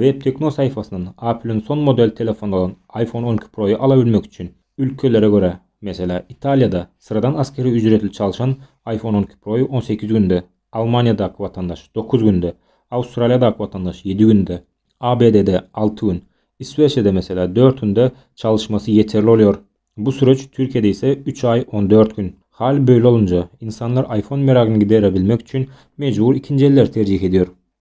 WebTekno saýfasyndan Apple-iň son model telefony bolan iPhone on iki Pro-y alabilmek üçin, ülkelere görä, meselä, Italiýada syradan askeri ücretli çalşan iPhone on iki Pro-y on sekiz günde, Almaniýadaky watandaş, dokuz günde, Awstraliýadaky watandaş, ýedi günde, ABD-de, alty gün, Iswesiýada, meselä, dört günde çalyşmasy ýeterli bolýar. Bu süreç Türkiýede ise üç aý on dört gün. Hal böyle olunca, insanlar iPhone meragyn gidere bilmek üçin mejbur ikinji elleri terjih edýär.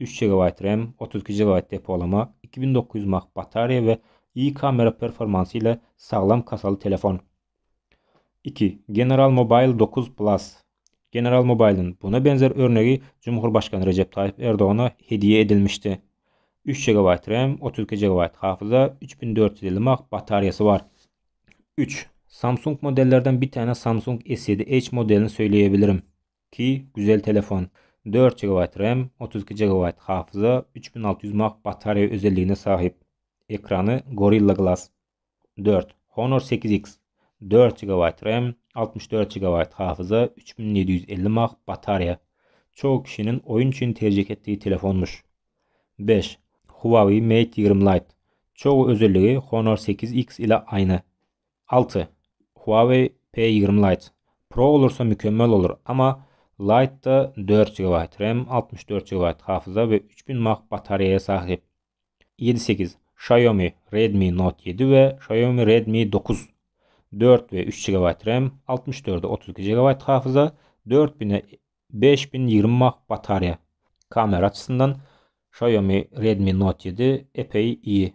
üç GB ram, otuz iki GB depolama, iki müň dokuz ýüz mAh batareýa we I kamera performansy ile saglam kasaly telefon. Iki. General Mobile dokuz Plus. General Mobile-iň buna benzer örnegi Cumhurbaşgany Rejep Taýyp Erdogana hediýe edilmişdi. Üç GB ram, otuz iki GB hafyza, üç müň dört ýüz elli mAh batareýasy bar. Üç. Samsung modellerden bitäne Samsung S ýedi Edge modelini söýleýebilirim. Ki güzel telefon. Dört jigabaýt ram, otuz iki jigabaýt hafyza, üç bin alty ýüz mAh batareýa özelligine sahyp. Ekrany Gorilla Glass dört. Honor sekiz X. Dört jigabaýt ram, altmyş dört jigabaýt hafyza, üç bin ýedi ýüz elli mAh batareýa. Çogy kişiniň oýun üçin terjih etdigi telefonmyş. Beş. Huawei Mate ýigrimi Lite. Çogy özelligi Honor sekiz X ile aýna. Alty. Huawei P ýigrimi Lite Pro bolursa mükemmel bolur ama Lite da dört gigabaýt ram altmyş dört gigabaýt hafyza we üç bin mah batareýa sahyp. Ýedi sekiz. Xiaomi Redmi Note ýedi we Xiaomi Redmi dokuz Dört we üç gigabaýt ram altmyş dörde otuz iki gigabaýt hafyza dört bine beş bin ýigrimi mah batareýa Kamera açysyndan Xiaomi Redmi Note ýedi epeý iyi